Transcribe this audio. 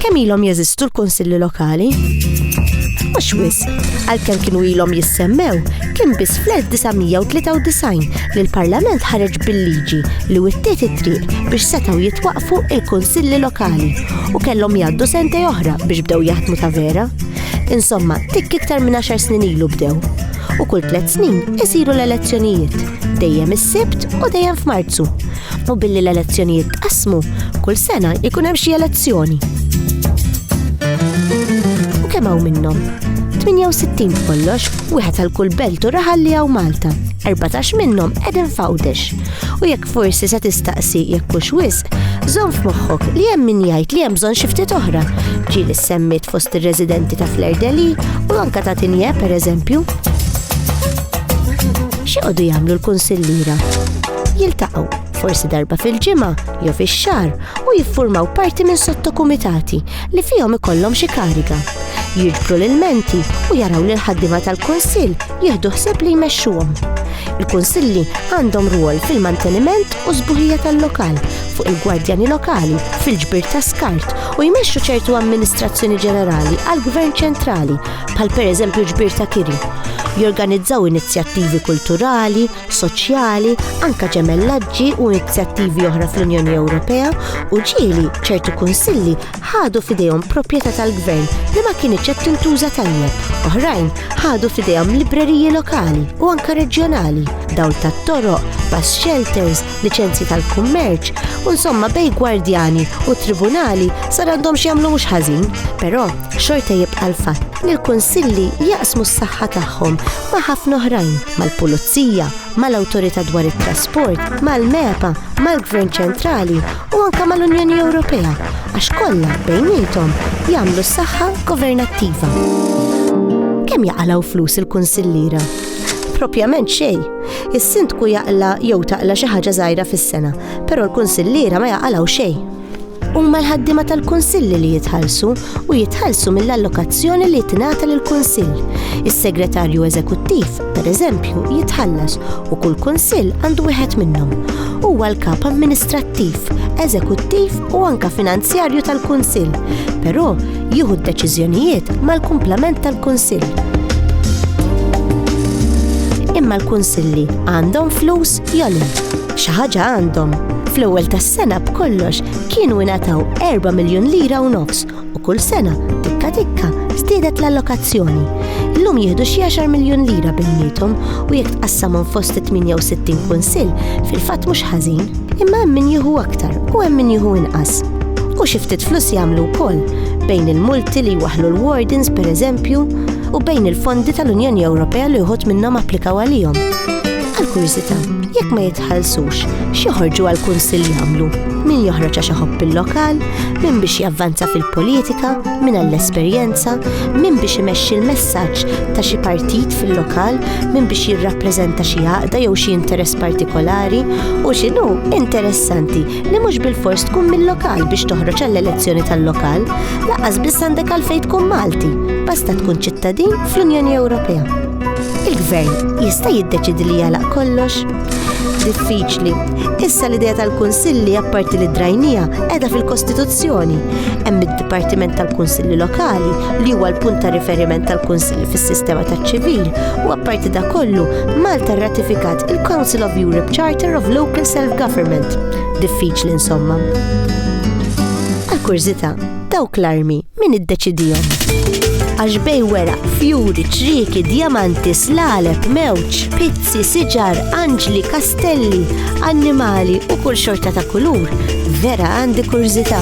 Kemm ilhom jeżistu l-Kunsilli Lokali? Mhux wisq, għalkemm kienu ilhom jissemmew, kien biss fl-1993 li l-Parlament ħareġ bil-liġi li wittiet it-triq biex setgħu jitwaqfu il-Kunsilli Lokali u kellhom jgħaddu sentej oħra biex bdew jaħdmu ta' vera. Insomma, tikk iktar minn għaxar snin ilu bdew. u kull tliet snin isiru l-elezzjonijiet, dejjem is-Sibt u dejjem f'Marzu. U billi l-elezzjonijiet tqassmu, kull sena jkun hemm xi elezzjoni. U kemm hawn minnhom? 68 b'kollox, wieħed għal kull belt u raħal li hawn Malta. 14 minnhom qegħdin f'Għawdex. U jekk forsi se tistaqsi jekk hux wisq, żomm f'moħħok li hemm min jgħid li hemm bżonn xi ftit oħra. Ġieli semmit fost ir-residenti ta' Flair Deli u anka ta' Tinje pereżempju. X'joqogħdu jagħmlu l-kunsilliera? Jiltaqgħu forsi darba fil-ġimgħa jew fix-xahar u jiffurmaw parti minn sottokumitati li fihom ikollhom xi kariga. Jiġbru l-menti u jaraw li l-ħaddiema tal-kunsill jieħdu ħsieb li jmexxuhom. Il-kunsilli għandhom rwol fil-manteniment u sbuħija tal-lokal, fuq il-gwardjani lokali, fil-ġbir ta' skart u jmexxu ċertu amministrazzjoni ġenerali għall-gvern ċentrali, bħal pereżempju ġbir ta' kiri. Jorganizzaw inizjattivi kulturali, soċjali, anka ġemellaġġi u inizjattivi oħra fl-Unjoni Ewropea u ġieli ċertu kunsilli ħadu f'idejhom proprjetà tal-Gvern li ma kinitx qed tintuża tajjeb. Oħrajn ħadu f'idejhom libreriji lokali u anke reġjonali, dawl tat-toroq, bus shelters, liċenzji tal-kummerċ, u insomma bej gwardjani u tribunali sar għandhom x'jagħmlu mhux ħażin. Però xorta jibqa' l-fatt li l-kunsilli jaqsmu s-saħħa tagħhom ma' ħafna oħrajn, mal-pulizija, mal-awtorità dwar it-trasport, mal-MEPA, mal-Gvern ċentrali u anke mal-Unjoni Ewropea għax kollha bejniethom jagħmlu s-saħħa governattiva. Kemm jaqalgħu flus il-kunsillira? propjament xej. Is-sindku jaqla jew taqla xi ħaġa żgħira fis-sena, però l-kunsilliera ma jaqalgħu xej. Huma l-ħaddiema tal-kunsilli li jitħallsu u jitħallsu mill-allokazzjoni li tingħata lill-Kunsill. Is-Segretarju Eżekuttiv, pereżempju, jitħallas u kull Kunsill għandu wieħed minnhom. Huwa l-kap amministrattiv, eżekuttiv u anke finanzjarju tal-Kunsill, però jieħu d-deċiżjonijiet mal-kumplament tal-Kunsill imma l-kunsilli għandhom flus jolin. Xi ħaġa għandhom. Fl-ewwel tas-sena b'kollox kienu ingħataw 4 miljun lira u nofs u kull sena tikka tikka żdiedet l-allokazzjoni. Illum jieħdu xi 10 miljun lira bejniethom u jekk tqassamhom fost 68 kunsill fil-fatt mhux ħażin. Imma hemm min jieħu aktar u hemm min jieħu inqas. U xi ftit flus jagħmlu wkoll bejn il-multi li jwaħlu l-wardens pereżempju u bejn il-fondi tal-Unjoni Ewropea li uħud minnhom applikaw għalihom. Għal kurżità, jekk ma jitħallsux, x'joħorġu għal kunsill jagħmlu? Min joħroġ għax iħobb il-lokal, min biex javvanza fil-politika, min għall-esperjenza, min biex imexxi l-messaġġ ta' xi partit fil-lokal, min biex jirrappreżenta xi għaqda jew xi interess partikolari, u x'inhu interessanti li mhux bil-fors tkun mill-lokal biex toħroġ għall-elezzjoni tal-lokal, laqas biss għandek għalfejn tkun Malti, basta tkun ċittadin fl-Unjoni Ewropea. Il-gvern jista' jiddeċidi li jagħlaq kollox? Diffiċli. Issa l-idea tal-kunsilli apparti li drajnija qiegħda fil-Kostituzzjoni. Hemm id-Dipartiment tal-Kunsilli Lokali li huwa l-punt ta' riferiment tal-Kunsilli fis-sistema taċ-ċivil u apparti da kollu Malta rratifikat il-Council of Europe Charter of Local Self-Government. Diffiċli insomma. Għal kurzita, dawk l-armi Min iddeċidihom? Għax bej wera, fjuri, ċrieki, djamanti, slaleb, mewġ, pizzi, siġar, anġli, kastelli, annimali u kull xorta ta' kulur, vera għandi kurżità.